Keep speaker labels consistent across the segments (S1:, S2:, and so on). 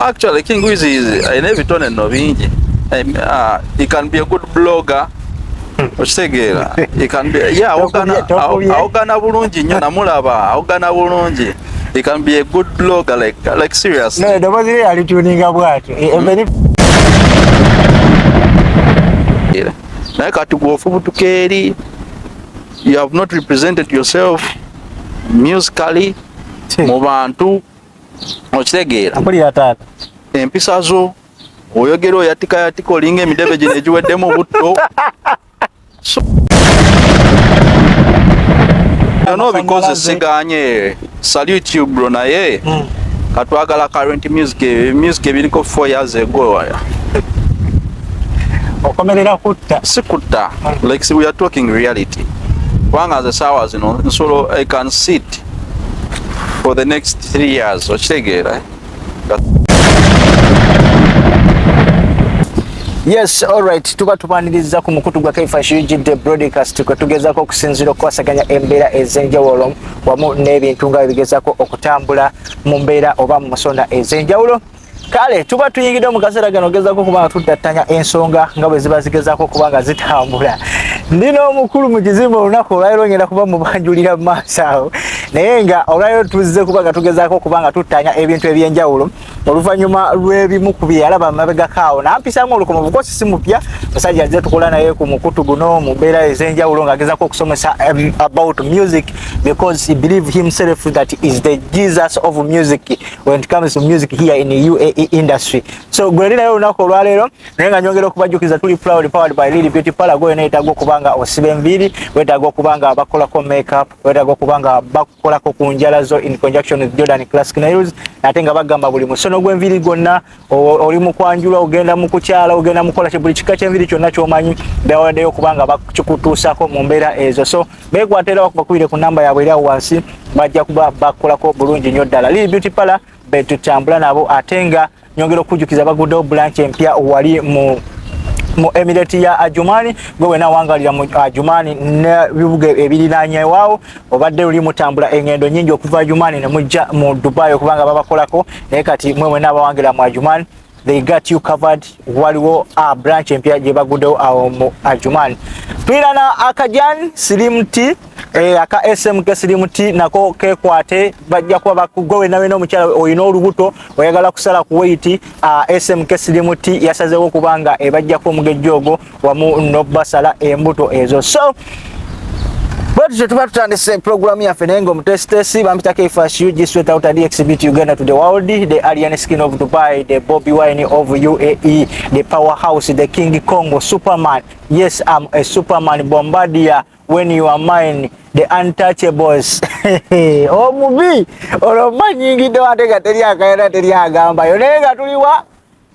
S1: Actually, King Wiz is in every tone and novinji. Uh, he can be a good blogger. Okitegeera. He can be yeah, awogana awogana bulungi nnyo namulaba, awogana bulungi. He can be a good blogger like like seriously. No, dobozi lye ali
S2: tuninga bwati. E, e, very
S1: Naye kati gwofubutuka eri you have not represented yourself musically mu bantu okitegeera mpulira taata
S2: empisa zo
S1: oyogera oyatika yatika olinga emidebe gino egiweddemu butto byona obikoze siganye salute you bro naye hmm. katwagala current music music ebiriko four years ago okomerera
S2: kutta si kutta hmm.
S1: like we are talking reality kubanga nze saawa zino nsolo i can sit for the next three years okitegeera
S2: Yes, all right. Tuba tubaniriza ku mukutu gwa Kaifash UGD broadcast kwe tugezako okusinzira okukwasaganya embeera ez'enjawulo wamu n'ebintu nga bigezako okutambula mu mbeera oba mu musonda ez'enjawulo. kale tuba tuyingidde mu kaseera gano gezaako okuba nga tuddattanya ensonga nga bwe ziba zigezaako okuba nga zitambula ndi n'omukulu mu kizimba olunaku olwaliro ngenda kuba mubanjulira mu maaso awo naye nga olwaliro tuzze kuba nga tugezaako okuba nga tuttaanya ebintu eby'enjawulo oluvannyuma lw'ebimu ku bye yalaba mabegako awo nampisaamu olukomo bukosi si mupya musajja azze tukola naye ku mukutu guno mu mbeera ez'enjawulo ng'agezaako okusomesa um, about music because he believe himself that is the jesus of music when it comes to music here in the UAE industry. So Grenadina leo nako olwalero naye nga nyongera okubajukiza tuli proud powered by Lily Beauty Parlor go enaita go kubanga osibe mbiri weta go kubanga bakola ko makeup weta go kubanga bakola ko kunjala zo in conjunction with Jordan Classic Nails natenga bagamba buli musono gwe mbiri gonna oli mukwanjula ogenda mukukyala ogenda mukola buli kika kyenviri kyonna kyomanyi bewadeyo kubanga bakikutuusako mu mbeera ezo so bekwata era bakubakubire ku namba yabwe eri awo wansi bajja kuba bakolako bulungi nnyo ddala lili beauty pala betutambula nabo ate nga nyongera okujjukiza baguddewo bulanki empya wali mu mu emirate ya ajumani gwe wena wangalira mu ajumani nebibuga ebiriranyewawo obadde luli mutambula engendo nyingi okuva Ajumani ne mujja mu Dubai okubanga babakolako naye kati mwe mwena abawangira mu Ajumani they got you covered waliwo a branch empya gye baguddewo awo mu Ajumani twirana akajan slim t eh, aka smk slim t nako kekwate bajja kuba bakugwe wena wena omukyala olina olubuto oyagala kusala ku weight uh, ah, smk slim t yasazewo kubanga ebajjako omugejjo ogwo wamu nobasala embuto ezo so bwetutyo tuba tutandise program yaffe naye ngaomutesitesi bampitako efas ug straight out ad exhibit uganda to the world the alien skin of dubai the bobby wine of uae the power house the king congo superman yes am a superman bombardier when you are mine the untouchables omubi olwo manyingidde wate nga teri akayana teri agambayo naye nga tuliwa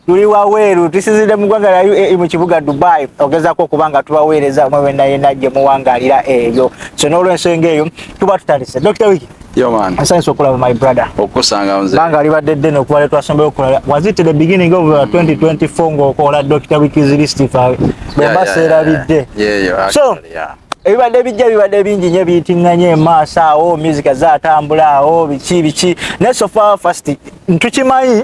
S2: tuli waweeru tusinzidde mu ggwanga lya e, mu kibuga dubai ogezaako okuba nga tubaweereza mwe wena yena gye muwangaalira eyo so n'olwensonga eyo tuba tutandise dr wiki asanyusa
S1: okulaba my brother
S2: okusanga nze banga
S1: alibadde ddene okuba le
S2: twasombeyo okulala was it the beginning of 2024 uh, ng'okola dr wiki's list bwemba seerabidde so ebibadde bijja bibadde bingi nyo ebiyitiŋŋanye emaaso awo music zaatambula awo biki biki naye sofa fast ntukimanyi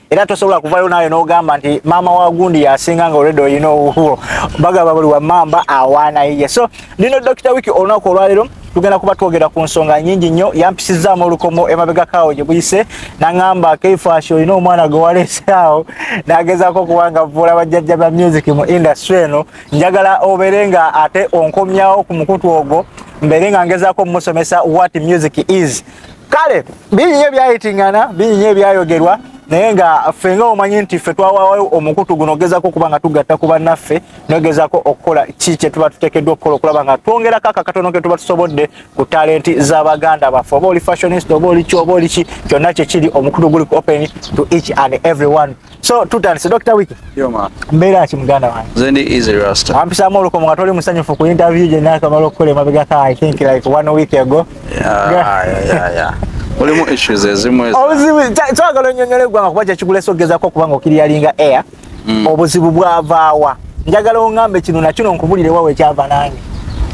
S2: era tosobola kuvayo nayo nogamba nti maama wa gundi yasinga nga olredo olina owuwo bagamba buli wamamba awaana yiye so lino dokita wiki olunaku olwalero tugenda kuba twogera ku nsonga nyingi nnyo yampisizaamu olukomo emabegakaawo gye buyise naŋamba keifashi olina omwana gwe waleesaawo nagezaako okuba nga vuula bajjajja ba music mu industry eno njagala obeere nga ate onkomyawo ku mukutu ogwo mbeere nga ngezaako omusomesa what music is kale bingi nyo ebyayitingana bingi nyo ebyayogerwa naye nga ffe nga omanyi nti ffe twawawo omukutu guno ogezako okuba nga tugatta ku bannaffe nogezako okukola ki kye tuba tutekeddwa okukola okulaba nga twongerako ako akatono ke tuba tusobodde ku talenti za baganda baffe oba oli fashionist oba oli ki oba oli ki kyonna kyekiri omukutu guli ku open to each and everyone So tutandise Dr. Wiki. Yo ma. Mbeera ki muganda wange? Nze ndi Easy Rasta.
S1: Ampisaamu olukomo nga toli
S2: musanyufu ku interview gye naakamala okukola emabega ka I think like one week ago. Yeah, yeah, yeah,
S1: yeah. Olimu issues ezimu ezo. Obuzibu twagala
S2: onnyonnyole eggwanga kuba kye kigula esogezaako okuba nga okiriyalinga air. Mm. Obuzibu bwavaawa. Njagala ongambe kino na kino nkubulire wawe ekyava nange.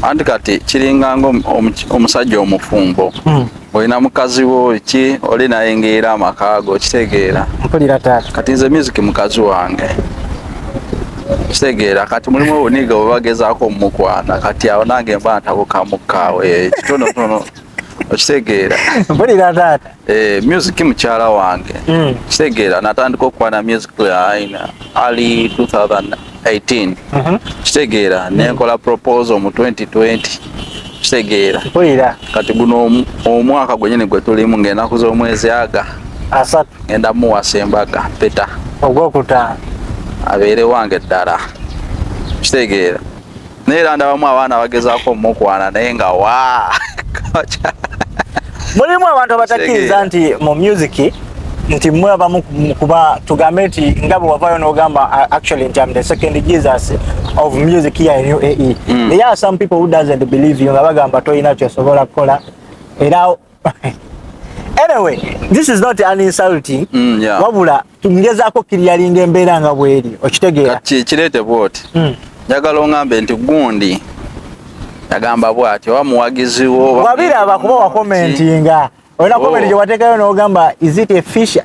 S2: Anti kati
S1: kiringa ng'omusajja omufumbo. Mm. olina mukazi wo ki oli naye ngeera amaka go kitegeera mpulira taata kati
S2: nze music mukazi
S1: wange kitegeera kati mulimu obuniga bwebagezaako omukwana kati awo nange mba ntabukaamukkaawo eh, kitonotono okitegeera mpulira
S2: taata eh, music
S1: mukyala wange hmm. kitegeera natandika okukwana music aina ali 2000 18 mhm. kitegeera nenkola proposal mu 2020 kitegeera kati
S2: guno
S1: omwaka gwenyini gwe tulimu ng'enaku z'omwezi aga asatu ngenda
S2: muwasa
S1: embaga peta ogwokutaano
S2: abeere
S1: wange ddala kitegeera naye era ndabamu abaana bagezaako omukwana naye nga wa
S2: mulimu abantu abatakkiriza nti mu music nti mwe abamu kuba tugambe nti nga bwe wavayo n'ogamba uh, actually nti am the second jesus of music here in uae mm. there are some people who doesn't believe you nga bagamba tolina kyosobola kukola era anyway this is not an insulting mm, yeah. wabula ngezaako kiriyalinga embeera nga bweri okitegeera kirete bwoti
S1: mm. njagala ongambe nti gundi yagamba bwati oba muwagizi wo wabiraba kuba
S2: wakomentinga olina komenti gye wateekayo n'ogamba is it a fisher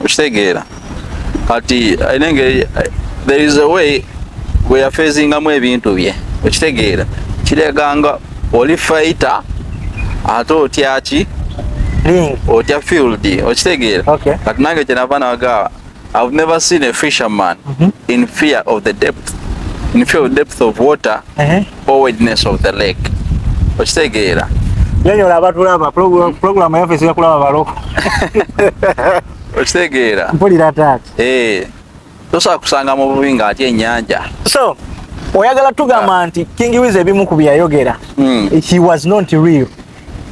S1: okitegeera kati alina engeri there is a way weyafeezingamu ebintu bye okitegeera kireganga oli faita ate otyaki otya field okitegeera kati nange kyenava nagawa I've never seen a fisherman mm -hmm. in fear of the depth in fear of depth of water uh -huh. forwardness of the leg okitegeera nyonyola
S2: abatulaba pulogulamu yaffe esiga kulaba baloko
S1: okitegeera mpulira taata eh, tosobola kusanga mu bubi nga ati ennyanja so
S2: oyagala tugamba ah. nti king wiz ebimu ku byeyayogera hmm. he was not real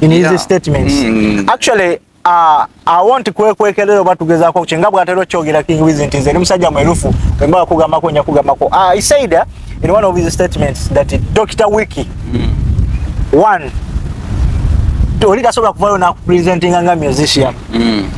S2: in his statements hmm. actually Ah, I want kwekwekerero batugeza ko chinga bwatero chogera King Wiz nti nze musajja mwerufu kwemba kugamba ko nya kugamba ko. Ah, he said uh, in one of his statements that Dr. Wiki mm. one toli kasobola kuvayo na presenting nga musician. Mm.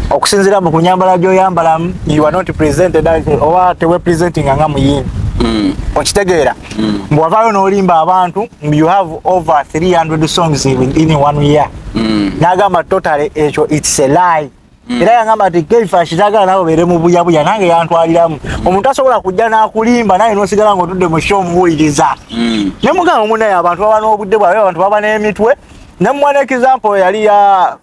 S2: Okusinzira mu kunyambala jo yambala you are not presented as owa tewe presenting nga muyini. Mm. Okitegeera. Mm. Mbwavayo no limba abantu you have over 300 songs in, in one year. mm. nagamba totale ekyo its a lie mm. era yangamba nti keifa kitagala nawe obeere mu buyabuya nange yantwaliramu mm. omuntu asobola kujja n'akulimba naye nosigala nga otudde mu sho omubuuliriza mm. ne mugamba munaye abantu baba n'obudde bwabe abantu baba n'emitwe ne mwana example yali ya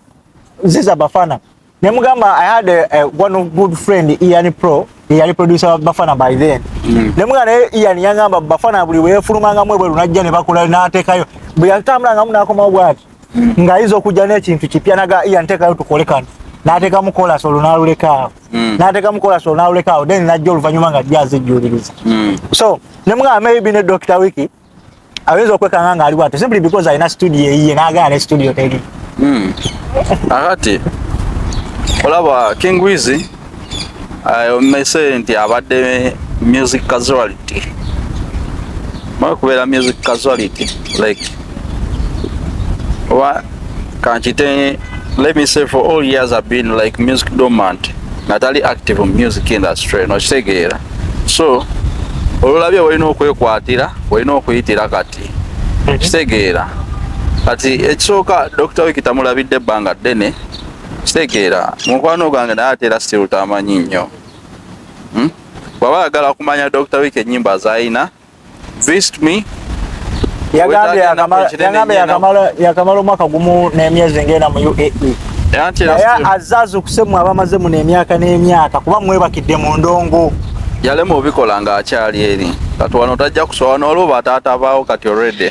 S2: ziza bafana ne mugamba i had a, a one of good friend ian pro eyali producer wa bafana by then mm. ne mugamba naye ian yangamba bafana buli weyefulumanga mwe bweru najja ne bakula n'ateekayo bwe yatambulangamu n'akomawo bwati mm. ng'ayinza okujja n'ekintu kipya naga ian teekayo tukole kano n'ateekamu kolasi olwo n'alulekaawo mm. n'ateekamu kolasi olwo n'alulekaawo then najja oluvannyuma nga jja azijjuuliriza mm. so ne mugamba maybe ne dokita wiki ayinza okwekanga nga ali bwatyo simply because alina studio eyiye nagana ne studio teri hmm.
S1: akati olaba king wizi omese nti abadde music casuality mwe kubeera music casuality like Kanchite, let me say for all years I've been like music dormant. Natali active in music industry, no kitegeera. So, olulabye walina okwekwatira, walina okuyitira kati. Mhm. Kitegeera. Kati ekisooka Dr. Wiki tamulabidde ebbanga ddene. Kitegeera, mukwano gwange naye ate era still tamanyi nnyo. Hmm? Bwaba ayagala kumanya Dr. Wiki ennyimba z'alina,
S2: yakamala omwaka gumu n'emyezi ngenda mu uae naye azze azukuse mwe abamaze muno emyaka n'emyaka kuba mwebakidde mu ndongo yalema obikola
S1: ng'akyali eri kati wano tajja kusooka n'olwo bataata baawo kati already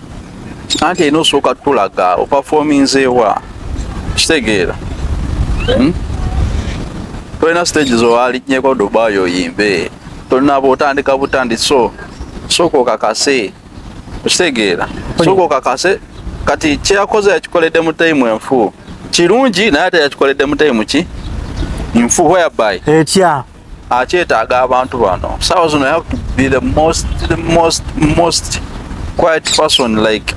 S2: anti
S1: erina osooka tulaga opafominzeewa kitegeera hmm? tolina stage zowalinyeko dubai oyimbe tolina botandika butandi so sooka okakase okitegeera sooka okakase kati kyeyakoze yakikoledde mu taimu enfu kirungi naye ate yakikoledde mu taimu ki nfu whereby ekya
S2: akyetaaga
S1: abantu bano saawa zino have to be the most, the most, most quiet person like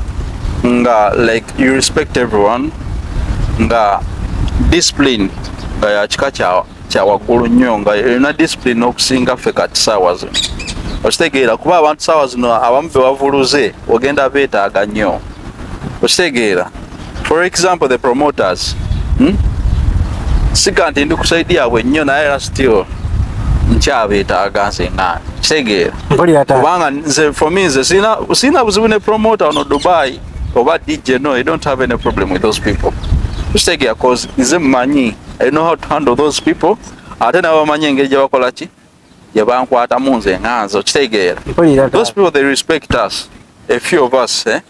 S1: nga like you respect everyone nga discipline nga yakika kyawaggulu nnyo nga erina discipline okusinga ffe kati saawa zino okitegeera kuba abantu saawa zino abamu bewavuluze ogenda beetaaga nnyo okitegeera For example the promoters hmm? sika nti ndi kusaidia yaabwe nnyo naye era still nkyabeetaaga nze nga kitegeera kubanga nze for me nze sirina buzibu ne promoter ono Dubai oba DJ no I don't have any problem with those people kitegeera cause nze mmanyi I know how to handle those people ate nabo bamanyi engeri gye bakola ki gye bankwatamu nze nga nze okitegeera those people they respect us a few of us eh?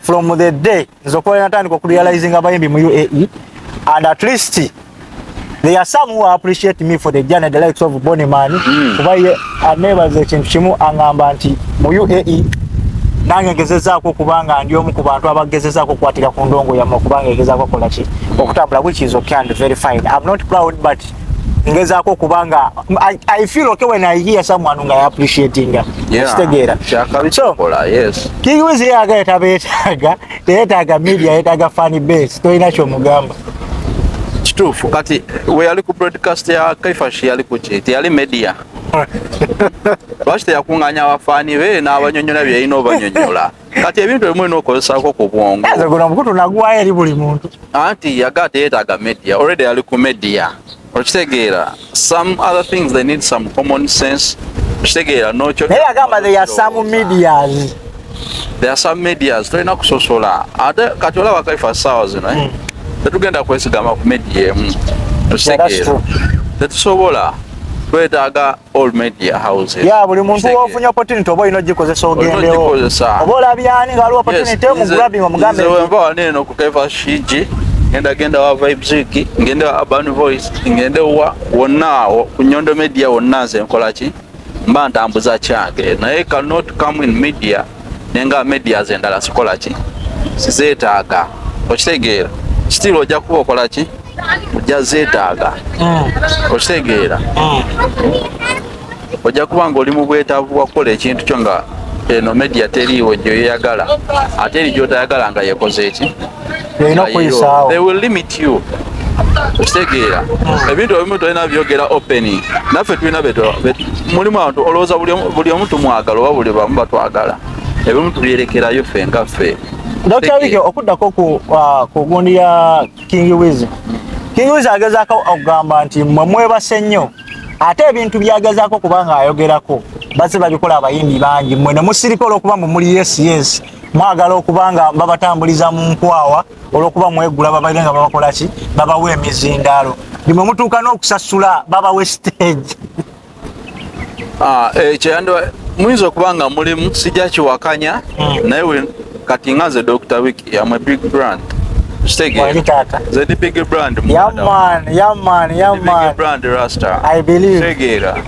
S2: from the day nze okuba natandika okurealizing abayimbi mu uae and at least There are some who appreciate me for the journey the likes of Bonnie Man hmm. kuba ye anebaza ekintu kimu angamba nti mu UAE nange ngezezaako kubanga ndi omu ku bantu abagezezaako okukwatira ku ndongo yamwe okubanga egezaako okukola ki okutambula which is okay and very fine I'm not proud but ngezaako okuba nga I, I feel okay when I hear someone nga appreciating kitegeera so King
S1: Wiz yaga
S2: yetaba yetaaga teyetaaga media yetaaga funny base tolina kyomugamba
S1: kituufu kati we yali ku broadcast ya kaifash yali kuki teyali media lwaki teyakuŋŋanya abafaani be n'abanyonyola byeyina obanyonyola kati ebintu ebimu olina okukozesako ku bwongo nze guno omukutu nagwayo
S2: eri buli muntu anti yaga
S1: teyetaaga media already ali ku media okitegeera some other things they need some common sense okitegeera nokyo naye agamba they are some
S2: medias they are
S1: some medias tolina kusosola ate kati olaba kaifa saawa zino eh? hmm. tetugenda kwesigama ku media emu okitegeera tetusobola twetaaga all media houses ya buli muntu wofunye
S2: opportunity oba ino jikozesa ogendewo oba olabyani nga waliwo opportunity mu grabbing omugambe nze wenva waneno ku
S1: kaifa shiji ngenda genda wa vibes wiki ngende wa urban voice ngende wa wonna ku nyondo media wonna nze nkola ki mba ntambuza kyange naye cannot come in media nenga media zendala sikola ki sizetaaga okitegeera kitiibwa ojja kuba okola ki ojja zeetaaga mm. okitegeera mm. ojja kuba nga oli mu bwetaavu bwa kukola ekintu kyo nga eno media teriiwo gyoyeyagala ate eri gyotayagala nga yekoze eki byolina okuyisaawo they will limit you okitegeera hmm. ebintu ebimu tolina byogera openi naffe tulina mulimu abantu olowooza buli omu tumwagala oba buli bamu batwagala ebimu tubyerekerayo ffe nga ffe dr wike
S2: okuddako ku uh, gundi ya king wiz king wiz agezaako okugamba nti mwe mwebase nnyo ate ebintu byagezaako kubanga ayogerako baze babikola abayimbi bangi mwe nemusirika olwokuba mumuli yes yes mwagala okuba nga babatambuliza mu nkwawa olwokuba mwegula babaire nga babakola ki babawa emizindaalo nimwe mutuuka n'okusasula babawa esiteegi ah, eh,
S1: kyeyandibadde muyinza okuba nga mulimu sijja kiwakanya hmm. naye kati nga nze dr wiki am a big brand
S2: kitegeera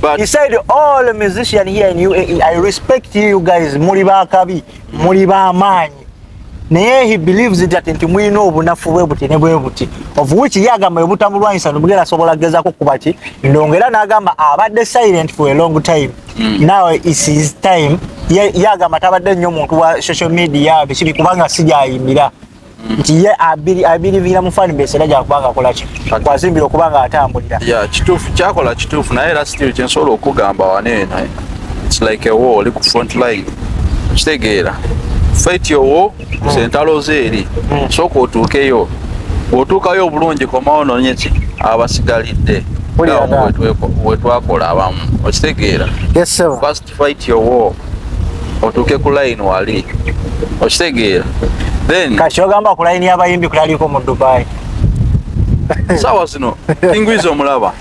S1: But he said
S2: all musician here in UAE I respect you guys muli bakabi muli ba manyi naye he believes it that nti mulina obunafu bwe buti ne bwe buti of which ye agamba bwe butamulwanyisa nomugera asobola agezako kuba ki ndongo era n'agamba abadde silent for a long time mm. now is his time ye agamba tabadde nnyo muntu wa social media bikiri kubanga sijayimbira nti ye abiriviira mu fan base era gyakuba nga akola ki kwazimbira okuba nga atambulira ya kituufu kyakola
S1: kituufu naye era still kyensobola okugamba wano eno its like a war oli ku front line kitegeera fight your war hmm. zentalo zeeri hmm. sooka otuukeyo bwotuukayo obulungi komawo nonye ki abasigalidde wetwakola abamu okitegeera
S2: fight your war
S1: otuuke ku line wali okitegeera then kati ogamba ku line
S2: y'abayimbi kulaliko mu dubai
S1: sawa zino kingwizi omulaba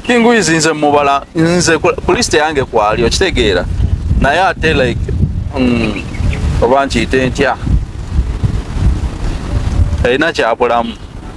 S1: kingwizi nze mubala nze ku list yange kwali okitegeera naye ate like mm, oba nkiyite ntya erina kyabulamu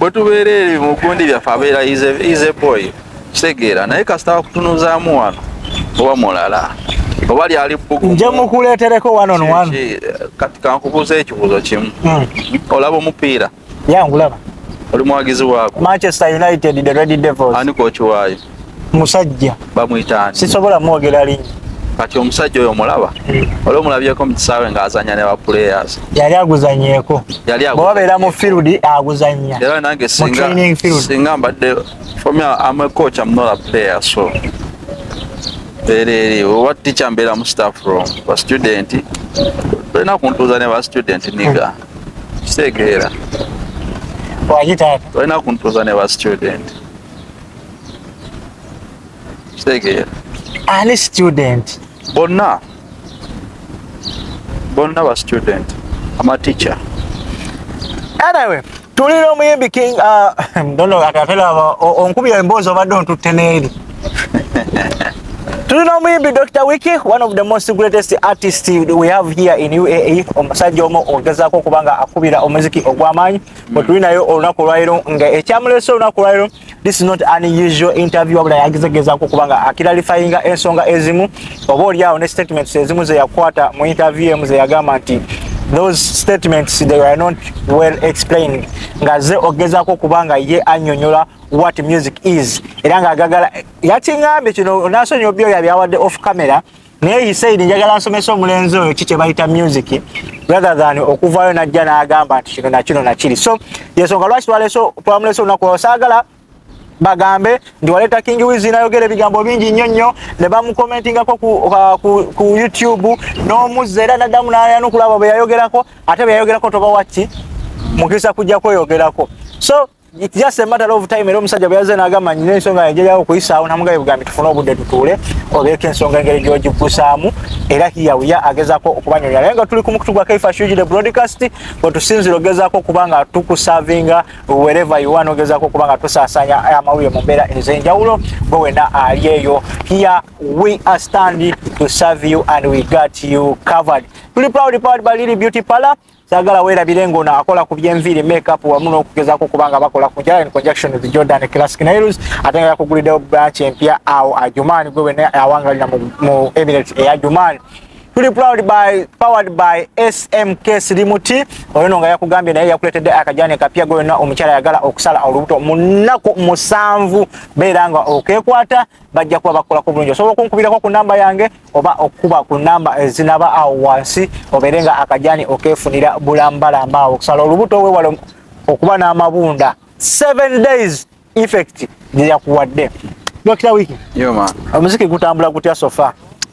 S1: bwe tubeera ebyo mu gundi byaffe abeera ize boy kitegeera naye kasita wakutunuzaamu wano oba mulala oba lyali bbugu nja mukuleetereko
S2: one on one kati kankubuuza
S1: ekibuuzo kimu hmm. olaba omupiira yangulaba
S2: oli muwagizi
S1: waako manchester united
S2: the red devils ani kokiwaayo
S1: musajja
S2: bamwitaani
S1: sisobola mwogera linyi
S2: kati omusajja
S1: oyo omulaba eh. oli omulabyeko mu kisaawe ng'azanya ne baplayers yali aguzanyeeko
S2: bwebabeera mu field aguzanya era nange
S1: singa mbadde fomi am a coach am not a player so bereere oba ticha mbeera mu staff room ba student tolina kuntuuza ne ba student niga kitegeera
S2: waki taata tolina kuntuuza
S1: ne ba student kitegeera ani
S2: student bonna
S1: bonna ba student ama teacher
S2: anyway tuli n'omuyimbi king uh, dono akatela onkubya emboozi obadde ontutte n'eri tuli n'omuyimbi dr wiki one of the most greatest artist we have here in uae omusajja omu ogezaako okuba nga akubira omuziki ogw'amaanyi bwe tuli naye olunaku olwaliro nga ekyamulesa olunaku olwaliro this is not an usual interview wabula yagezegezaako kuba nga akilalifayinga ensonga ezimu oba oliawo ne statements ezimu zeyakwata mu interview emu zeyagamba nti those statements they were not well explained nga ze ogezaako kuba nga ye anyonyola what music is era nga agagala yakiŋambye kino nasonyi obyoya byawadde off camera naye he said njagala nsomese omulenzi oyo ki kyebayita music rather than okuvaayo najja n'agamba nti kino nakino nakiri so yensonga lwaki twaleso twamulese olunaku osaagala bagambe nti waleeta king wiz nayogera ebigambo bingi nnyo nnyo ne bamukomentingako ku, uh, ku, ku youtube n'omuzza era naddamu nayanukulaba bwe yayogerako ate bwe yayogerako toba wakki mukisa kujja kweyogerako so it's just a matter of time era omusajja bwe yazze n'agamba nyina ensonga yange yawo okuyisaawo namugaye bugambi tufune obudde tutuule obeeko ensonga engeri gy'ogigusaamu era hiyawiya agezaako okubanyonyola naye nga tuli ku mukutu gwa kaifa shuji the broadcast we tusinzira ogezaako okuba nga tukusavinga wereva iwan ogezaako okuba nga tusaasanya amawulire mu mbeera ez'enjawulo bwe wena ali eyo here we are standing to serve you and we got you covered tuli proud powered by lily beauty parlor sagala werabire nga ono akola ku byenviiri makeup wamu n'okugezaako kubanga bakola ku jala in conjunction with jordan classic nails ate nga yakuguliddewo branch empya awo ajuman gwe wena awangalira mu emirates eya juman tuli proud by powered by smk silimuti oyo no nga yakugambye naye yakuletedde akajani kapya gwe wena omukyala yagala okusala olubuto mu nnaku musanvu beera nga okekwata bajja kuba bakolako bulungi osobola okunkubirako ku namba yange oba okukuba ku namba ezinaba eh, awo wansi obeere nga akajani okefunira bulambalamba awo okusala olubuto wewala okuba n'amabunda seven days effect gyeyakuwadde dokita wiki omuziki gutambula gutya sofa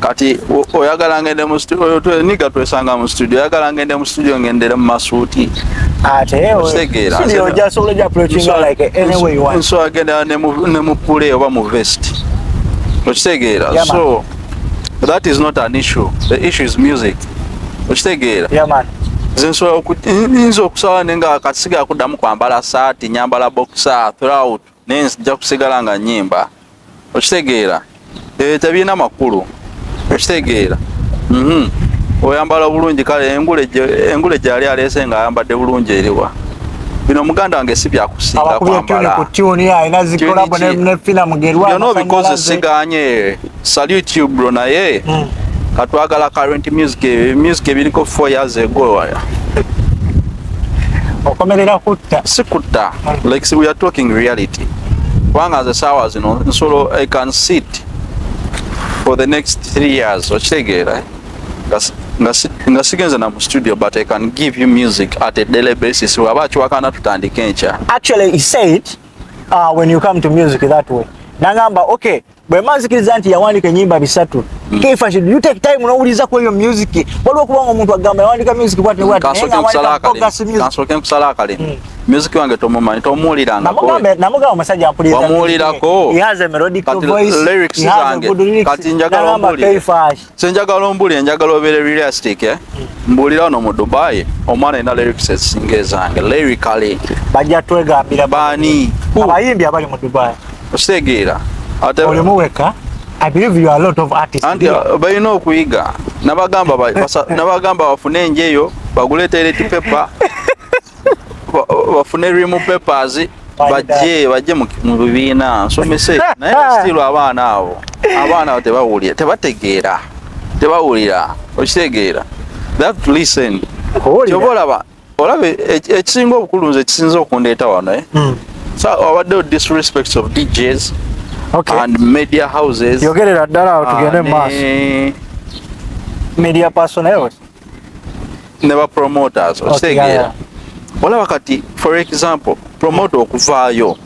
S1: kati oyagala ngende mu studio oyo twe niga twesanga mu studio oyagala ngende mu studio ngendere mu masuuti ate
S2: osegeera studio ja solo ja approaching like any way you want so agenda ne mu ne
S1: mu pule oba mu vest osegeera yeah, so that is not an issue the issue is music osegeera yeah
S2: man zinsobola okuinza
S1: okusaba nenga akasiga akudamu kwambala saati nyambala boxer throughout naye nzija kusigala nga nyimba okitegeera eh, tebirina makulu okitegeera mhm. oyambala obulungi kale engule gyali aleese nga ayambadde bulungi eriwa bino muganda wange si byakusinga kwambala byona obikoze siganye Salute you bro naye mm. katwagala current music music ebiriko 4 years ago okomerera
S2: kutta si kutta mm.
S1: like see, we are talking reality kubanga nze saawa zino nsolo i can sit for the next 3 years okitegeera nga sigenze na mu studio but i can give you music at a daily basis waba akiwakana tutandika enkya actually he said
S2: uh, when you come to music that way nangamba okay bwe manzikiriza nti yawandiika enyimba bisatu mm. kefa should you take time nowuliza ku eyo music waliwo kubanga omuntu agamba yawandiika music bwati bwati kansoke
S1: nkusala akalimu mm. music wange tomumanyi tomuwulirangakonamugamba omusajja
S2: mpulirizamuwulirako lyrics zange
S1: kati njagala omuwulire senjagala ombuli enjagala obeere realistic eh? mbuulira ono mu dubai omwana ina lyrics ezisinga ezange lyrically bajja twegambira
S2: bani
S1: abayimbi abali mu
S2: dubai ositegeera
S1: olimu
S2: weka I believe you are a lot of artists. Anti uh, balina
S1: okuyiga nabagamba nabagamba bafune enjeyo bagule toilet paper bafune rimu papers bajje bajje mu bibiina nsomese naye basitirwa abaana abo abaana abo tebawulira tebategeera tebawulira okitegeera that listen kyoba olaba olaba e, e, ekisinga obukulu nze ekisinza okundeeta wano eh? hmm. so abaddewo disrespects of djs okay. and media houses yogerera ddala awo tugende
S2: maaso media personnel
S1: ne ba promoters okitegeera olaba kati for example promoter okuvaayo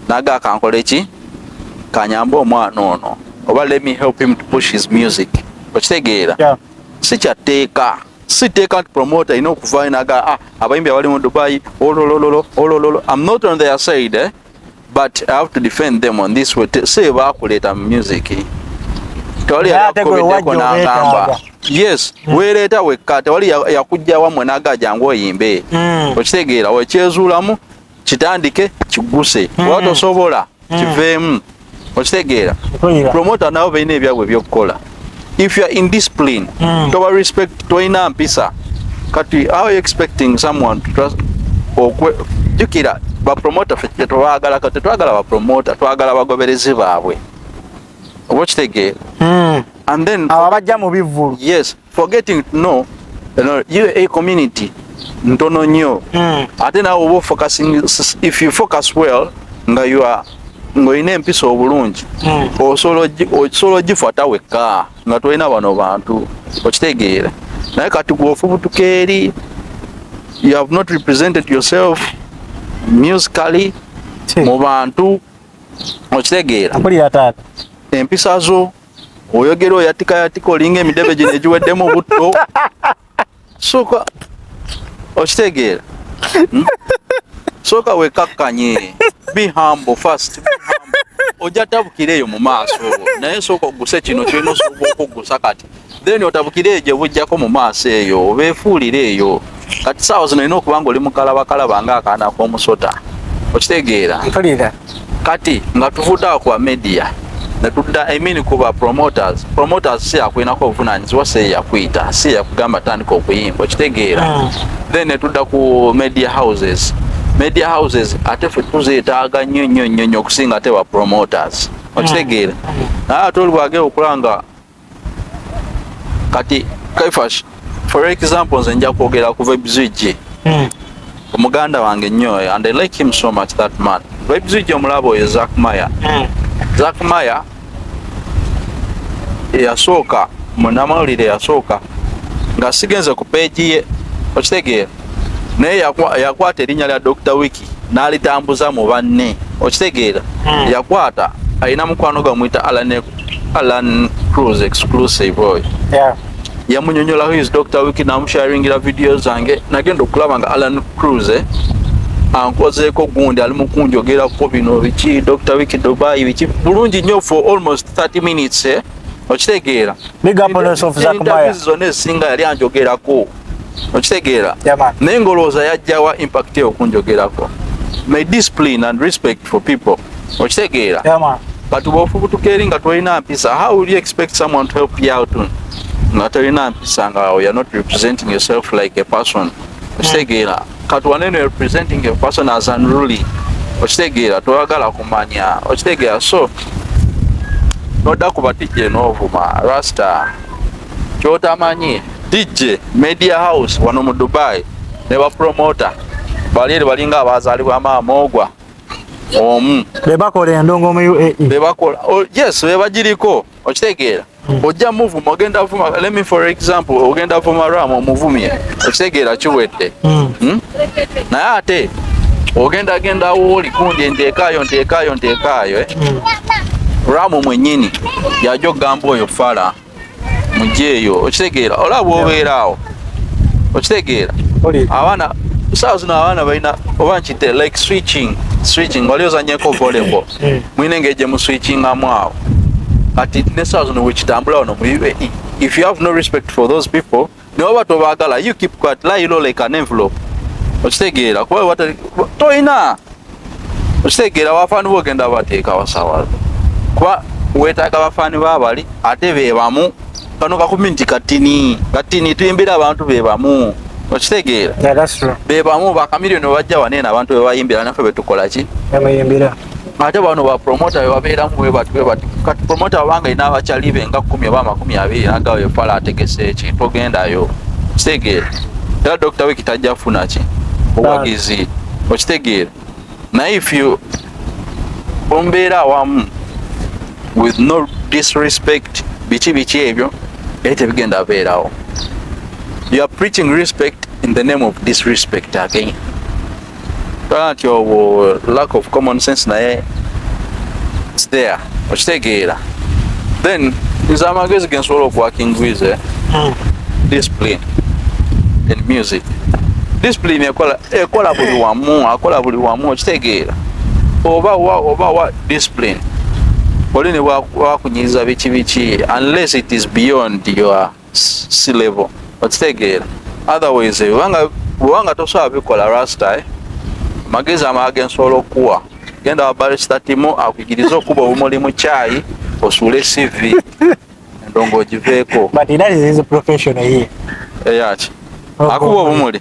S1: naga akankole ki kanyamba omwana ono oba let me help him to push his music okitegeera yeah. si kyatteeka si tteeka nti promoter alina okuvaayo naga ah, abayimbi abali mu dubai ololololo olololo am not on their side eh? but i have to defend them on this way say bakuleta music tewali yakubiddeko nagamba yes mm. weereeta wekka tewali yakujja wamwe naga jangu oyimbe mm. okitegeera wekyezuulamu kitandike kiguse mm. watosobola mm. kiveemu okitegeera promota nabo balina ebyabwe ebyokukola if youare indiscipline mm. toba respect tolina mpisa kati how you expecting someone to trust okwe jukira bapromota fe tetwagala kati twagala bapromota twagala abagoberezi baabwe oba okitegeera mm. and then abo abajja mu bivvulu
S2: yes forgetting
S1: to know you a community ntono nnyo hmm. ate nawe oba focusing if you focus well nga you are ng'olina empisa obulungi hmm. osobola ogifata wekka nga tolina bano bantu okitegeera naye kati gwofubutuka eri you have not represented yourself musically mu bantu okitegeera empisa zo oyogera oyatika yatika olinga emidebe gino egiweddemu obutto soka okitegeera hmm? soka wekakkanye be humble first ojja tabukira eyo mu maaso naye soka oguse kino kirina osobola okugusa kati then otabukire eyo gye bujjako mu maaso eyo obeefuulire eyo kati saawa zino olina okuba nga oli mukalabakalaba nga akaana k'omusota okitegeera kati nga tuvudde awo kuba media netudda emini kuba promoters promoters si yakulinako obuvunanyizibwa si yakuyita si yakugamba tandika okuyimba okitegeera hmm. then netudda ku media houses media houses ate fe tuzeetaaga nnyo nnyo nnyo nnyo okusinga ate ba promoters okitegeera hmm. naye ate olwagee okulanga kati kaifash for example nze nja kwogera ku vibeswitch hmm. omuganda wange nnyo eh, and i like him so much that man vibeswitch omulaba oyo zak maya hmm. zak maya eyasooka munamawulire yasooka nga sigenze ku peegi ye okitegeera naye yakwata erinnya lya dr wiki n'alitambuza mu banne okitegeera hmm. yakwata alina mukwano gwamuyita alan alan cruz exclusive oyo yeah. yamunyonyolaho his doctor wiki namusharingira vidiyo zange nagenda okulaba nga alan cruz eh, ankozeeko gundi ali mukunjogerako bino biki dr wiki dubai biki bulungi nyo for almost 30 minutes eh? okitegeera zonna ezisinga yali anjogerako okitegeera naye ngolowooza yajjawa impact eyo okunjogerako my discipline and respect for people okitegeera but bwofubutuka eri nga tolina mpisa how will you expect someone to help you out nga tolina mpisa nga you're not representing yourself like a person okitegeera hmm. kati waneno representing a person as unruly okitegeera toyagala kumanya okitegeera so nodda kubatijja enovuma rasta kyotamanyi DJ Media House wano mu Dubai ne ba promoter bali eri balinga abazalibwa maama ogwa omu bebakola
S2: endongo mu UAE bebakola oh, yes
S1: bebagiriko okitegeera hmm. ojja muvuma ogenda vuma let me for example ogenda vuma ram omuvumye okitegeera kiwedde hmm. Hmm? naye ate ogenda genda wooli kundi nteekaayo nteekaayo nteekaayo eh? ram mwenyini yaja okugamba oyo fala mujeeyo okitegeera olaba bwobeera awo okitegeera abaana saawa zino abaana balina oba nkite like switching switching wali ozanyeko volleyball hmm. mulina engeri gye muswitchingamu awo kati ne saawa zino wekitambula wano mu uae if you have no respect for those people ne waba tobagala you keep quiet lie low like an envelope okitegeera kuba watali toyina okitegeera abafaani bogenda abateeka wasawa kuba wetaaga abafaani babali ate bebamu kano kakumi nti katini katini tuyimbira abantu bebamu okitegeera bebamu bakamiliyoni bajja waneena abantu bebayimbira nafe betukolaki ate bano bapromota bebabeeramu webati webati kati promota wabanga ina abakyali be nga kumi oba amakumi abiri nagawo yefala ategese ki togendayo kitegeera era dokita wiki tajja funa ki obuwagizi okitegeera naye if you ombeera awamu with no disrespect biki biki ebyo naye tebigenda beerawo you are preaching respect in the name of disrespect again Twanti obwo lack of common sense naye it's there okitegeera then nze amagezi ge nsobola okuwakingwize hmm. discipline in music discipline ekola ekola buli wamu akola buli wamu okitegeera oba wa oba wa discipline oli ne wakunyiza biki biki unless it is beyond your si level okitegeera otherwise bwebanga bwebanga tosobola bikola rasta eh? magezi amaa gensobola okuwa genda wa barista timu akugirize okuba obumuli mu kyayi osuule cv endongo ogiveeko but that is his
S2: profession ye eyaki
S1: akuba obumuli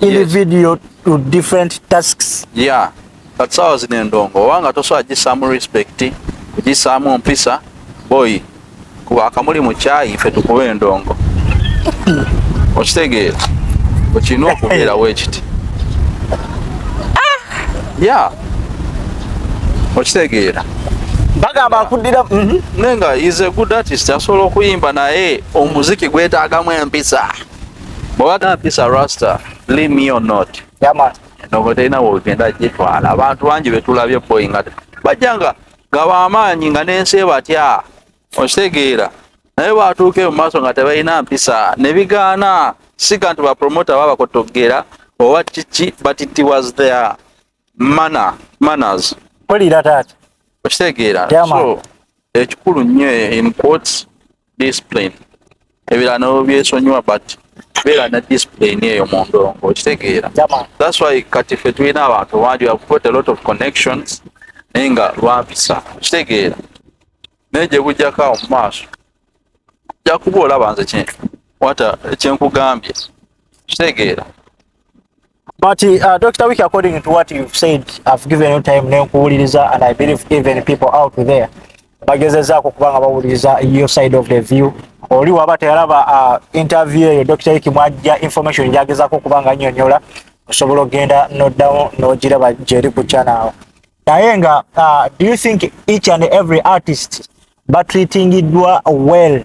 S2: in yes. video to different tasks yeah but
S1: sawa zine ndongo wanga toso ajisamu respect kujisamu mpisa boy kuwa akamuli muchayi ife tukuwe ndongo okitegeera okirina okubeerawo ekiti ah! ya okitegeera bagamba
S2: akuddira mhm. naye nga is
S1: a good artist asobola okuyimba naye omuziki gwetaagamu empisa bwewagana pisa rasta believe me or not yama nongo
S2: terina wogenda
S1: gitwala abantu bangi betulabye boy nga bajja nga nga bamaanyi nga n'ensi batya okitegeera naye bwatuuke mu maaso nga tebalina mpisa ne bigaana siga nti bapromota babakotoggera oba kiki but it was there mana manners mpulira
S2: taata okitegeera so
S1: ekikulu nnyo in quotes discipline ebirala nabo byesonyiwa but beera na discipline eyo mu ndongo okitegeera thats why
S2: kati ffe
S1: tulina abantu bangi have got a lot of connections naye nga lwampisa okitegeera naye gye bujjako awo mu maaso jakuba olaba nze wata kyenkugambye okitegeera
S2: But uh, Dr. Wiki, according to what you've said, I've given you time now kuwuliriza and I believe even people out there bagezezaako kuba nga bawuliriza your side of the view oli waba teyalaba uh, interview eyo Dr. Wiki mwajja information gyagezaako okuba nga nyonyola osobola okugenda noddawo n'ogiraba gyeri ku channel naye nga uh, do you think each and every artist batreatingiddwa well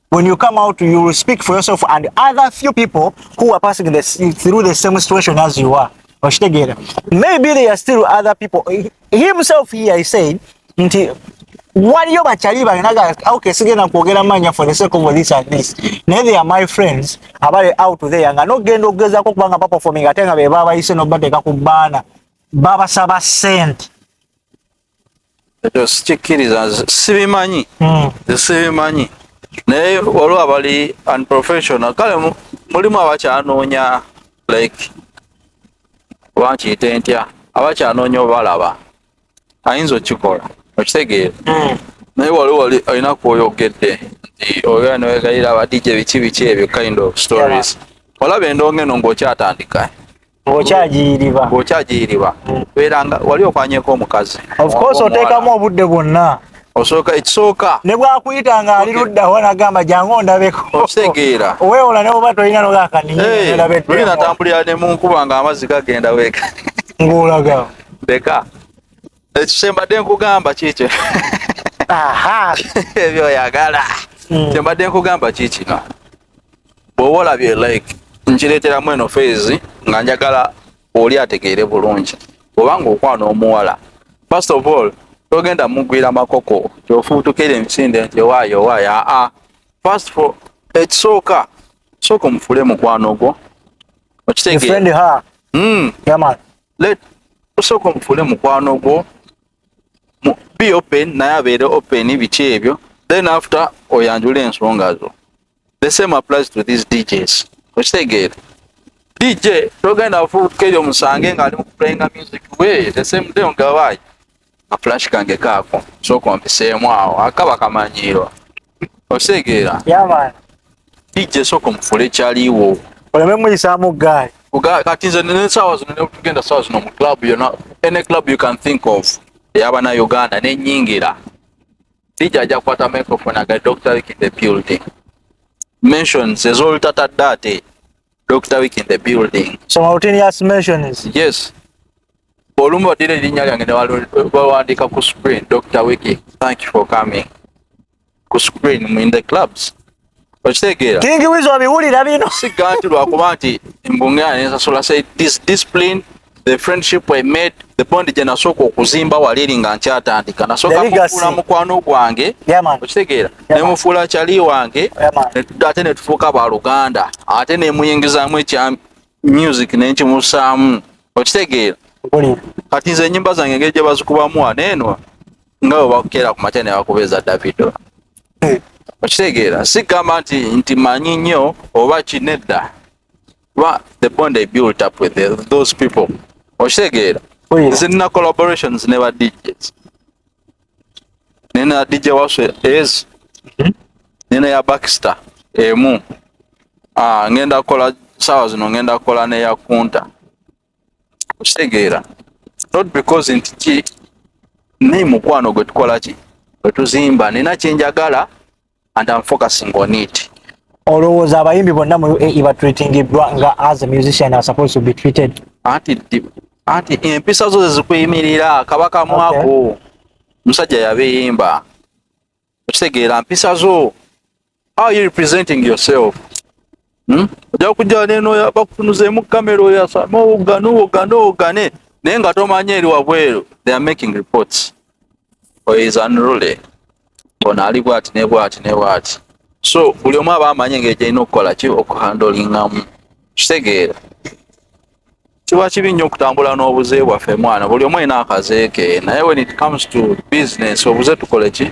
S2: when you come out you will speak for yourself and other few people who are passing the, through the same situation as you are oshitegera maybe there are still other people himself here he said nti waliyo bakyali balinaga okay sigenda kwogera manya for the sake of this and this naye they are my friends abali out there nga nogenda okugezako okubanga baperforming ate nga bebabayise nobateeka ku baana babasaba sente ekyo
S1: sikikkiriza sibimanyi hmm. sibimanyi naye waliwo abali unprofessional kale mulimu abakyanoonya like oba nkiyite ntya abakyanoonya obalaba ayinza okikola okitegeera hmm. naye wali wali olina kwoyogedde nti oyo newegayira abadijja biki biki ebyo kind of stories olaba endonga eno ngaokyatandika okyagiyiriba okyagiyiriba beeranga wali okwanyeko omukazi ofcourse oteekamu
S2: obudde bwonna osooka ekisooka
S1: ne bwakuyita nga
S2: ali luddawa nagamba jangu ondabeko okitegeera oweewola
S1: ne oba tolina
S2: nogakanioli natambulira ne
S1: munkuba nga amazzi gagenda weeka ng'olaga
S2: leka
S1: ekikyembadde nkugamba kiikyo
S2: ebyo
S1: oyagala hmm. kyembadde nkugamba kiikino bwoba olabye like nkireeteramu eno feezi nga njagala oli ategeere bulungi obanga okwana omuwala first of all togenda mugwira makoko kyofuutukira emisinde nti owaayo owaayo aa first for ekisooka sooka omufule mukwano gwo okitegeera hmm. let osooka omufuule mukwano gwo be open naye abeere open biki ebyo then after oyanjula ensonga zo the same applies to these djs okitegeera dj togenda fuuka eyo musange ng'ali mu kuplayinga music we the same day ongawayi flash kange kaako sooka ompiseemu awo akaba kamanyiirwa osegeera
S2: yabana
S1: dijje sooka omufule ekyaliiwo
S2: oleme muyisaamu
S1: gaali kati nze nesaawa zino netugenda saawa zino mu club yona any club you can think of eyabana uganda nenyingira dijje ajja kukwata microphone aga dr wiki the building mentions ezolutatadde ate Dr. Week in the building. So Martinius mention
S2: is? Yes.
S1: Olumu odile ilinya lyange ne waluandika ku screen. Dr. Wiki, thank you for coming. Ku screen mu in the clubs. Okitegeera. Kingi wizo abiwulira
S2: bino. Siga nti lwakuba
S1: nti mbunge anensasula say this discipline the friendship I made the bond gye nasooka okuzimba wali eri nga nkyatandika nasooka mufuula mukwano gwange okitegeera ne mufuula kyali wange ate ne tufuuka ba luganda ate ne muyingizaamu ekya music ne nkimusaamu okitegeera kati nze enyimba zange engeri gye bazikubamu wano eno nga bwe bakukeera ku makya ne bakubeeza davido eh. okitegeera sigamba nti nti manyi nnyo oba kinedda kuba the bond i built up with the, those people okitegeera nze nina collaborations ne ba djs nina dj waswe ez mhm. nina ya baxter emu ah, ngenda kukola saawa zino ngenda kukola neya kunta okitegeera not because nti ki naye mukwano gwe tukola ki wetuzimba nina kyenjagala and I'm focusing on it. Olowooza
S2: abayimbi bonna mu UAE batreatingiddwa nga as a musician are supposed to be treated. Anti
S1: anti empisa zo zezikuyimirira kabaka mwako okay. Musajja yabiyimba okitegeera mpisa zo how you representing yourself hmm? ojja kujja neno bakutunuzeemu kamera oyo asama owogane owogane owogane naye nga tomanya eri wabweru they are making reports oyo is unruly ono ali bwati ne bwati ne bwati so buli omu aba amanyi engeri gyalina okukola ki okuhandolingamu kitegeera kiba kibi nnyo okutambula n'obuze bwaffe mwana buli omu alina akazeeke naye when it comes to business obuze tukole ki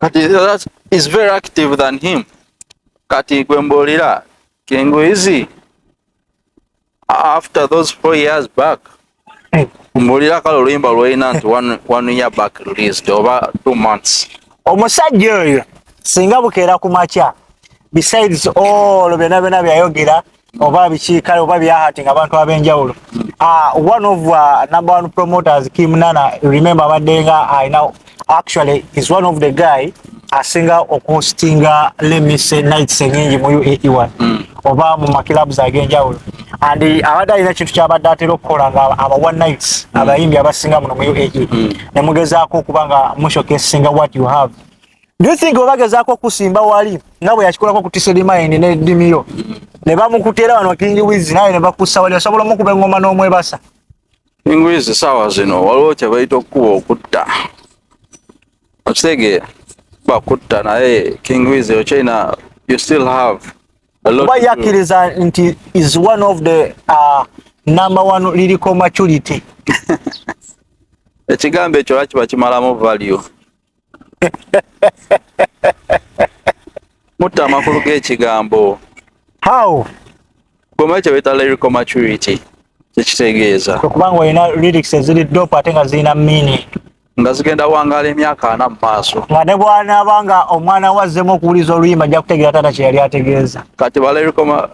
S1: kati that is very active than him kati gwe mbuulira kingwizi after those four years back mbuulira kale oluyimba lwolina nti one, one year back released oba two months omusajja
S2: oyo singa bukeera ku makya besides all byona byona byayogera oba biki kale oba byahating abantu ab'enjawulo uh, one of uh, number one promoters Kim Nana remember abadde nga I know actually is one of the guy asinga okuhostinga let me say nights enyingi mu UAE1 mm. oba mu makilabs ag'enjawulo and abadde alina kintu kyabadde atera okukola nga aba one nights mm. abayimbi abasinga muno mu UAE mm. ne mugezaako okuba nga mushokesinga what you have Do you think obagezaako okusimba wali nga bwe yakikolako ku Tisedi Mine ne Dimiyo ne bamukutera wano King Wiz naye ne bakussa wali osobola omukuba engoma n'omwebasa? King
S1: Wiz saawa zino waliwo kye bayita okukuba okutta okitegeera bakutta naye King Wiz okyalina you still
S2: have kuba
S1: yakkiriza nti
S2: is one
S1: of the uh,
S2: number one liriko maturity
S1: ekigambo ekyo lwakiba kimalamu value mutta amakulu g'ekigambo how
S2: gwemanyi
S1: kyebeta lyrical maturity kyekitegeeza kwekubanga olina
S2: lyrics eziri dop ate nga zirina meaning nga zigenda
S1: wangala emyaka ana mu maaso nga ne bwanaaba
S2: nga omwana we azzemu okuwuliza oluyimba ajja kutegeera taata kye yali ategeeza kati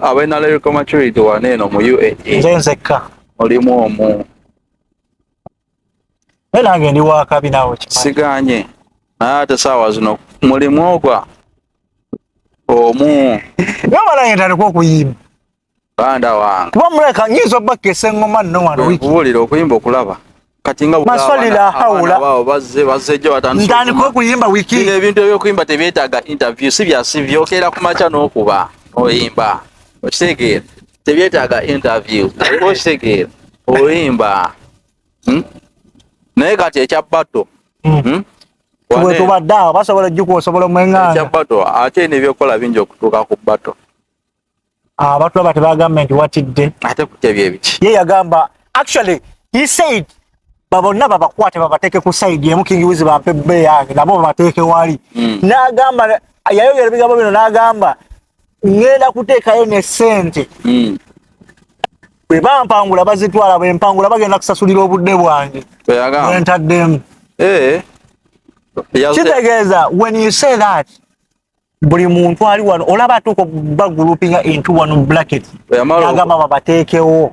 S2: abalina
S1: lyrical maturity wana eno mu uae nze nzekka
S2: olimu omu nange ndi wakabi nawe siganye
S1: naye ate saawa zino mulimu ogwa omu nabalange ntaleka
S2: okuyimba banda
S1: wange kuba muleka nyinza
S2: obakka esengoma nno wano wikubulira okuyimba okulaba
S1: kati nga maswali la haula
S2: wao bazze bazze
S1: jo atandika ndani ko kuyimba wiki
S2: ile bintu byo kuyimba
S1: tebetaga interview si bya sivyo okera kumacha no kuba oyimba okitegeera tebyetaaga interview okitegeera oyimba hmm? naye kati ekya bato
S2: hmm. hmm? tubadde awo basobola ojjuka osobola omwenganga ekya bato ate
S1: nebyokukola bingi okutuuka ku bato
S2: abantu ah, aba tebagambye nti watidde ate kutebyebiki
S1: ye yagamba
S2: actually he said babonna babakwate babateeke ku saidi emu kingi wizi bampe bbe yange nabo babateeke wali n'agamba yayogera ebigambo bino n'agamba ngenda kuteekayo ne sente hmm. bwe bampangula bazitwala bwe mpangula bagenda kusasulira obudde bwange bwentaddemu eh. kitegeeza when you say that buli muntu ali wano olaba atuuka bagulupinga into one bracket agamba babateekewo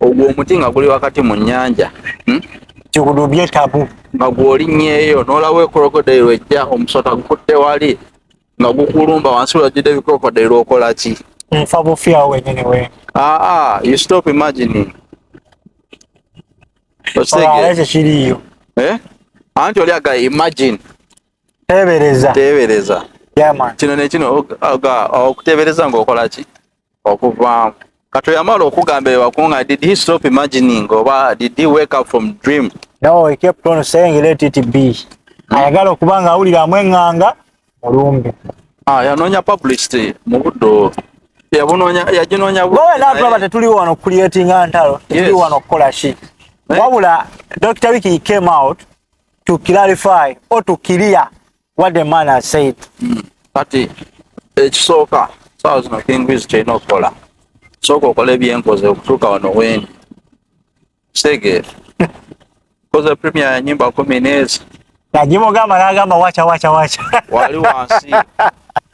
S1: ogwo omuti nga guli wakati mu nnyanja hmm? kikudu
S2: byetabu nga gwolinnyeeyo
S1: n'olaba ekorokodeyiro ejja omusota gukutte wali nga gukulumba wansi wajjudde ebikorokodeyiro okola ki nfa bufyawo
S2: wenyini we aa you
S1: stop imagining
S2: ekyo kiriyo eh?
S1: anti oli aga imagine tebereza tebereza
S2: kino nekino
S1: okutebereza ngaokola ki okuvaamu kato yamala okugamba ewakunga did he stop imagining oba did he wake up from dream no he kept on
S2: saying let it be hmm. ayagala okuba nga awulira amwenganga mulumbi ah, yanoonya
S1: publicity mu buddo yabunoonya yaginoonya wowe nabraba tetuli wano
S2: creatinga ntalo tetuli wano okukola ki eh? wabula dr wiki came out to clarify or to clear what the man has said mm. kati
S1: ekisooka sawa zino kingwizi kyerina okukola sooka okola ebyenkoze okutuuka wano weni kitegeera koze premier ya nyimba kumi neezi najimugamba
S2: nagamba wacha wacha wacha wali
S1: wansi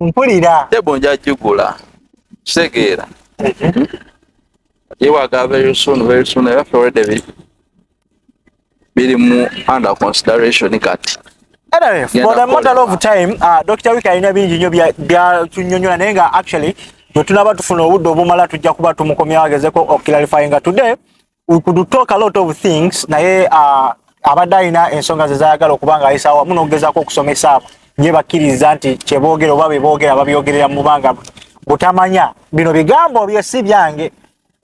S2: mpulira tebo nja jigula
S1: kitegeera yewaga very soon very soon era ffe already biri mu under consideration kati Anyway, for
S2: the matter of time, uh, Dr. Wika alina bingi nnyo byatunyonyola naye nga actually bwe tunaba tufuna obudde obumala tujja kuba tumukomyawo agezeko okuclarifyinga today we could talk a lot of things naye uh, abadde alina ensonga ze zayagala okuba nga ayisa wamu n'okugezaako okusomesa ye bakkiriza nti kyeboogera oba beboogera babyogerera mu banga butamanya bino bigambo bye si byange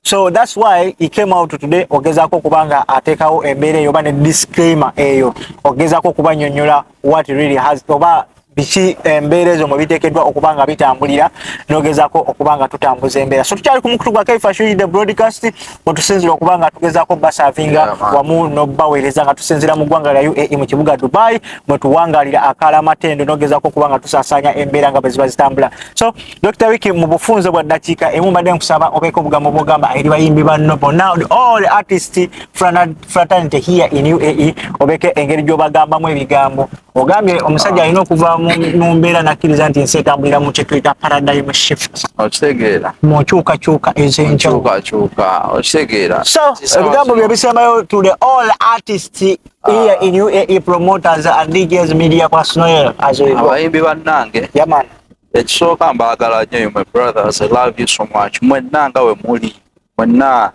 S2: so thats why he came out today ogezaako okuba nga ateekawo embeera eyo oba ne disclaimer eyo ogezaako okuba nyonyola what really has oba biki embeera ezo mwe biteekeddwa okuba nga bitambulira nogezako okuba nga tutambuza embeera so tukyali ku mukutu gwa kaifashuri the broadcast wetusinzira okuba nga tugezako basavinga wamu nobaweereza nga tusinzira mu ggwanga lya uae mu kibuga dubai mwe tuwangalira akaala amatendo nogezako okuba nga tusasaanya embeera nga bweziba zitambula so dr wiki mu bufunze bwa ddakiika emu mbadde nkusaba obeeko obugambo bwogamba eri bayimbi banno bonna all artist franad fraternity here in UAE obeke engeri gyobagambamu ebigambo ogambye omusajja alina okuva mu mbeera nakkiriza nti ensi etambulira mu kyetuyita paradigm shift okitegeera mu
S1: nkyukakyuka
S2: ez'enkyukakyuka okitegeera
S1: so ebigambo
S2: bye bisembayo to the all artists ah. here in UAE promoters and DJs media kwa Snoel as we go abayimbi bannange
S1: yaman
S2: ekisooka
S1: mbaagala nnyo my brothers I love you so much mwenna nga we muli mwenna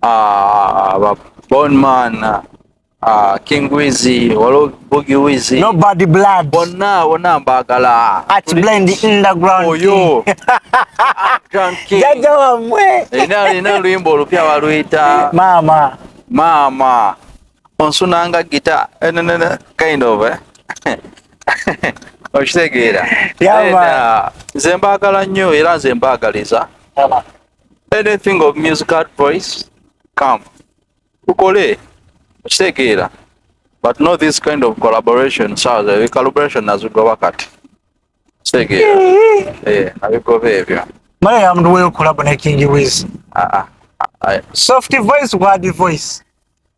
S1: ah, ba Bonman ah, King Wizzy walo Boogie Wizzy no bad blood
S2: bonna bonna mbagala
S1: at blend
S2: underground oyo
S1: jaja wa
S2: mwe ina ina luimbo
S1: olupya waluyita mama mama onsunanga gita eh, kind of eh okitegeera nze mbaagala nnyo era nze mbaagaliza anything of music advice come tukole kitegeera but not this kind of collaboration sawa ebi collaboration nazigoba kati kitegeera eh, eh abigoba ebyo mara ya mndu wewe
S2: collab na King Wiz ah ah, ah, ah. soft voice word voice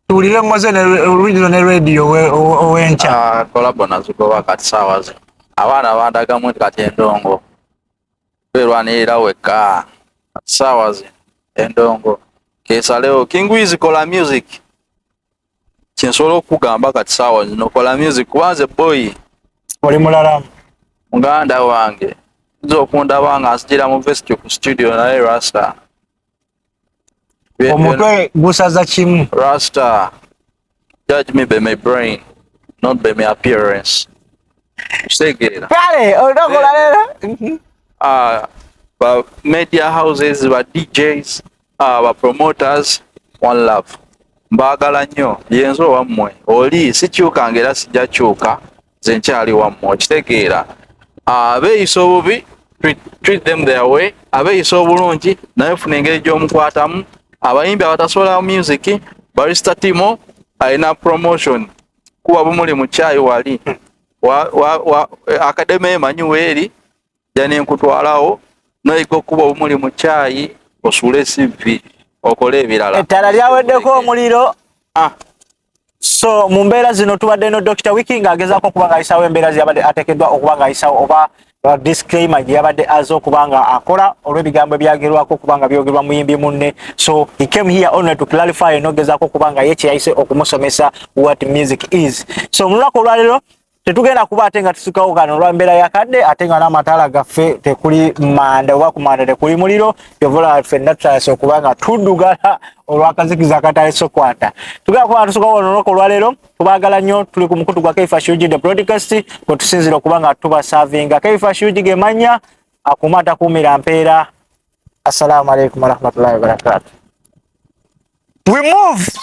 S2: tuwulire mmoze ne original ne radio owenkya ah, collab nazigoba
S1: kati sawa abaana bandagamu kati endongo Welwanirira wekka saawa zino endongo kesalewo kingwizi kola music kyensobola okukugamba kati saawa zino kola music kubanze boy oli mulala
S2: muganda
S1: wange nza okundaba nga nzijira mu vesti ku studio naye rasta
S2: omutwe gusaza kimu rasta
S1: judge me by my brain not by my appearance kitegeera kale
S2: onokola leero mhm. ah,
S1: ba media houses ba djs ah, ba promoters one love mbaagala nnyo yenze owammwe oli sikyukanga era sijja kyuka nze nkyali wammwe okitegeera ah, abeeyisa obubi treat them their way abeeyisa obulungi naye funa engeri gy'omukwatamu abayimbi abatasobola music barista timo alina promotion kuba bumuli mu chai wali wa, wa, wa, akademe emanyi weeri jani nkutwalawo noyiga okuba obumuli mu chai osuule cv okole ebirala ettala lyaweddeko
S2: omuliro ah. So mu mbeera zino tubadde no Dr. Wiki ng'agezaako okuba ng'ayisaawo embeera ze yabadde ateekeddwa okuba ng'ayisaawo oba uh, disclaimer gye yabadde aze okuba nga akola olw'ebigambo ebyagerwako okuba nga byogerwa muyimbi munne so he came here only to clarify n'ogezaako okuba nga ye kye yayise okumusomesa what music is so mu lunaku olwaleero tetugenda kuba ate nga tusukawo kano olwa mbeera ya kadde ate nga n'amataala gaffe tekuli manda oba ku manda tekuli muliro yovola ffenna tutayasa okuba nga tuddugala olwakazikiza akatayesa okwata tugenda kuba nga tusukawo olunaku olwaleero tubagala nnyo tuli ku mukutu gwa kaifa shuji the broadcast kwe tusinzira okuba nga tubasavinga kaifa shuji gemanya akuuma atakuumira mpeera assalamu alaikum warahmatullahi wabarakatu we move